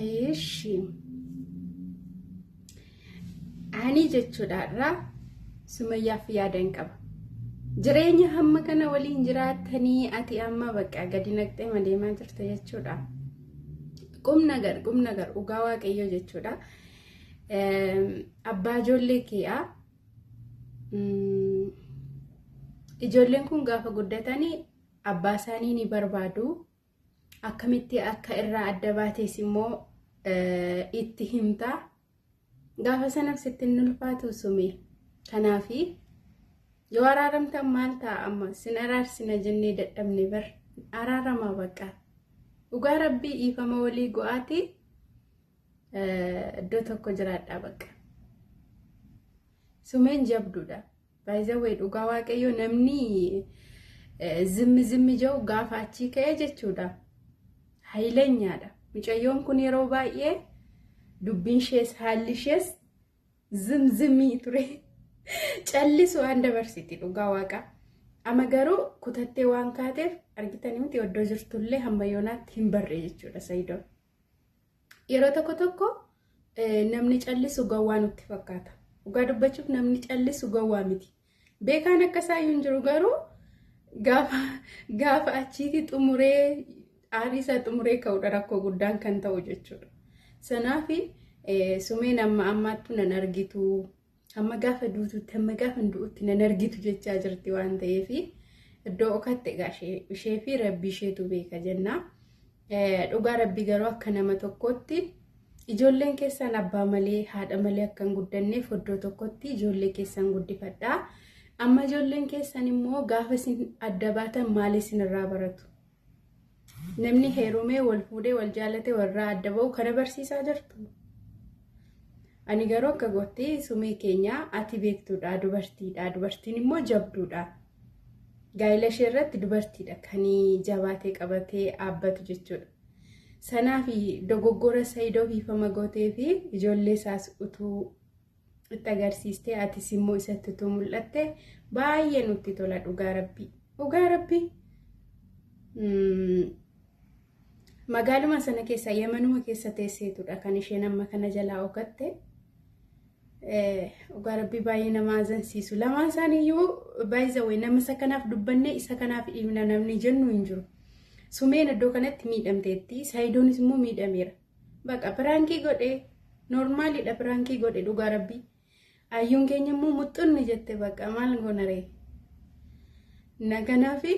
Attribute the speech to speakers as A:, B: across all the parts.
A: Eeshi. Ani jechuudha irraa sumayyaaf yaadan qaba. Jireenya hamma kana waliin jiraattanii ati amma bakka gadi naqxee madeemaa jirta jechuudha. Qum nagar qum nagar dhugaa waaqayyoo jechuudha. Abbaa ijoollee keeyaa ijoolleen kun gaafa guddatanii abbaa isaanii ni barbaadu. akkamitti akka irraa adda baatees immoo itti himta gaafa sanaaf sitti hin ulfaatu sume kanaafi yoo araaramtan maal ta'a amma sin araarsina jennee dadhabne bar araaramaa baqa dhugaa rabbii dhiifama walii go'aati iddoo tokko jiraadhaa baqa sumeen jabduudha. By the way dhugaa waaqayyo namni zimmi zimmi jau gaafa achii ka'ee jechuudha. Hayilenyaadha. Mucayyoon kun yeroo baay'ee dubbiin ishees haalli ishees zim zimmii ture. Callisu waan dabarsiti dhugaa waaqa. Amma garuu kutattee waan kaateef argitanii miti oddoo jirtullee hamma yoonaatti hin barree jechuudha Sayidoon. Yeroo tokko tokko namni callisu gowwaa nutti fakkaata. Dhugaa dubbachuuf namni callisu gowwaa miti. Beekaan akka isaa hin jiru garuu gaafa gaafa achiitii xumuree aarii isaa xumuree ka'udha rakkoo guddaan kan ta'u jechuudha. Sanaafi sumeen amma ammaattu nan argitu Hamma gaafa duututti hamma gaafa du'utti nan argitu jechaa jirti waan ta'eef iddoo okaatti egaa ishee fi rabbii isheetu beeka jenna. Dhugaa rabbii garuu akka nama tokkootti ijoolleen keessan abbaa malee haadha malee akka hin guddanneef iddoo tokkotti ijoollee keessan guddifadha. Amma ijoolleen keessan immoo gaafa isin adda baatan maal isinirraa baratu? Namni heerumee wal fuudhee wal jaalate warraa adda ba'u kana barsiisaa jirtu. Ani garuu akka gootti sumee keenya ati beektuudha dubartiidha dubartiin immoo jabduudha. Gaa'ila ishee irratti dubartiidha kan jabaatee qabatee dhaabbatu jechuudha. Sanaa fi dogoggora Saayidoo fi Famagotee fi ijoollee isaas utuu itti agarsiiste atis immoo isatti utuu mul'atte baay'ee nutti tola dhugaa rabbii dhugaa rabbii magaaluma sana keessa yamanuma keessa teesseetudha kan isheen amma kana jalaa ogatte dhugaa rabbii baay'ee nama azansiisu lamaan isaaniiyyuu baay'isa wayi nama isa kanaaf dubbannee isa kanaaf dhiibna namni jennu hin jiru sumeen iddoo kanatti miidhamteetti saayidoonis immoo miidhameera. Baqa piraankii godhe noormaalidha piraankii godhe dhugaa rabbii ayyuun keenya immoo muxxunni jette baqa maal goonaree na kanaafi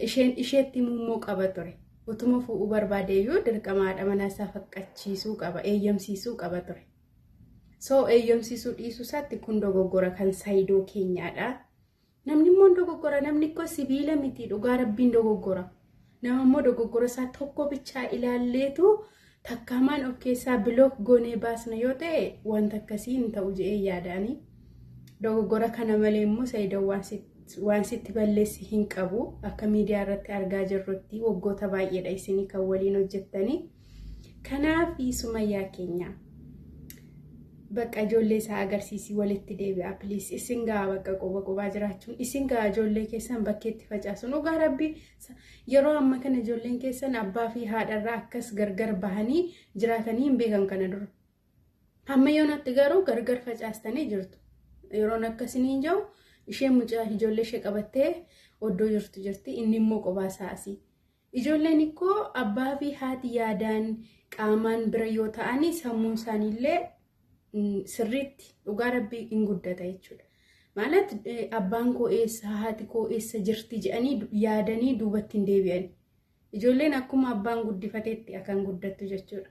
A: isheen isheetti immoo qaba ture utuma fuudhuu barbaade iyyuu dirqama haadha manaa isaa faqqachiisuu qaba eeyyamsiisuu qaba ture soo eeyyamsiisuu dhiisuu isaatti kun dogoggora kan saayidoo keenyaadha. Namni immoo hin dogoggora namni koo sibiila miti dhugaa rabbiin dogoggora. Nama immoo dogoggora isaa tokko bichaa ilaalleetu takkaamaan of keessaa bilook goonee baasna yoo ta'e wanta akkasii hin ta'u je'ee yaadaani. Dogoggora kana malee immoo sayidoon waan si- waan sitti balleessi hin qabu. Akka miidiyaa irratti argaa jirrutti waggoota baay'eedha isinii kan waliin hojjettanii. Kanaaf sumayyaa keenya bakka ijoollee isaa agarsiisii walitti deebi'aa piliis isin gahaa bakka qoba qobaa jiraachuun isin gahaa ijoollee keessan bakkeetti facaasun dhugaa rabbi yeroo amma kana ijoolleen keessan abbaa fi haadharraa akkas gargar bahanii jiraatanii hin beekan kana dura. Amma yoonatti garuu gargar facaastanii jirtu. Yeroon akkasiniin jiru isheen mucaa ijoollee ishee qabattee oddoo jirtu jirti inni immoo qobaa isaa asii. Ijoolleen ikkoo abbaa fi haati yaadaan qaamaan bira yoo ta'anii sammuun isaaniillee sirriitti dhugaa rabbii hin guddata jechuudha. Maalat abbaan koo eessa haati koo eessa jirti jedhanii yaadanii duubatti hin deebi'an. Ijoolleen akkuma abbaan guddifateetti akan guddattu jechuudha.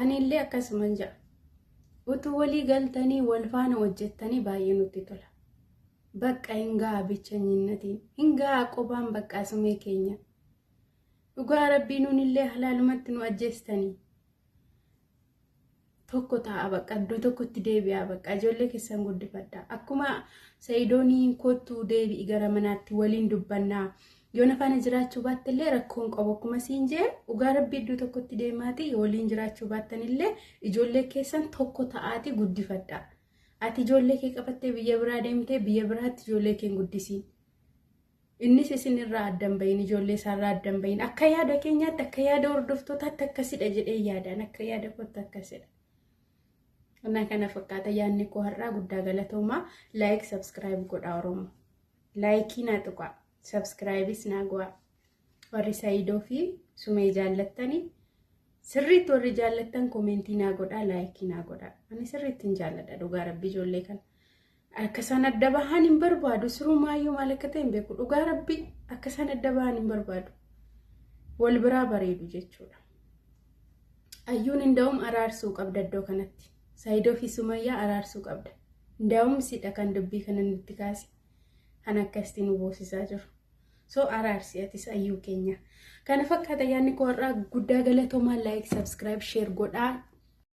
A: Anillee akkasuman ja'a. Utuu walii galtanii wal faana hojjettanii baay'ee nutti tola. Bakka hin ga'a bichanyinnatiin. Hin ga'a qobaan baqqaa sumee keenya. Dhugaa rabbii nuunillee halaalumatti nu ajjeestanii. Tokko ta'a bakka iddoo tokkotti deebi'aa bakka ijoollee keessan guddifadha. Akkuma sa'idooniin kottu deebi'i gara manaatti waliin dubbannaa. Yoo na faana jiraachuu baattellee rakkoo hin qabu akkuma siin jee dhugaa rabbii iddoo tokkotti deemaatii yoo waliin jiraachuu baattanillee ijoollee keessan tokko ta'aatii guddifadha. Ati ijoollee kee qabattee biyya biraa deemtee biyya biraatti ijoollee kee hin guddisiin. Innis isin irraa adda hin bahin ijoollee isaarraa adda hin bahin akka yaada keenyaatti akka yaada hordoftootaatti akkasidha jedhee yaadaan akka yaada kootti akkasidha. Kana kana fakkaata yaadni koo har'aa guddaa galatoomaa laayik sabskiraayib godhaa Oromoo. Laayikii naa tuqaa. Subscribes naa go'aa. Warri Saidoo fi Sumee jaallattani sirriitti warri jaallattan komentii naa godhaa laayikii naa godhaa. Ani sirriitti hin jaalladha dhugaa rabbi ijoollee kana. Akka isaan adda bahan hin barbaadu sirumaayyuu maal akka ta'e hin beeku dhugaa rabbi akka isaan adda bahan hin barbaadu. Wal biraa bareedu jechuudha. Ayyuun hin da'um araarsuu qabda iddoo kanatti. Saidoo fi Sumayyaa araarsuu qabda. Ndaawum sidha kan dubbii kana nutti kaase. Kan akkasitti nu boosisaa jiru. So araarsi atis ayyuu keenya. Kana fakkaata yaadni koo har'aa guddaa galatoomaa like subscribe share godhaa.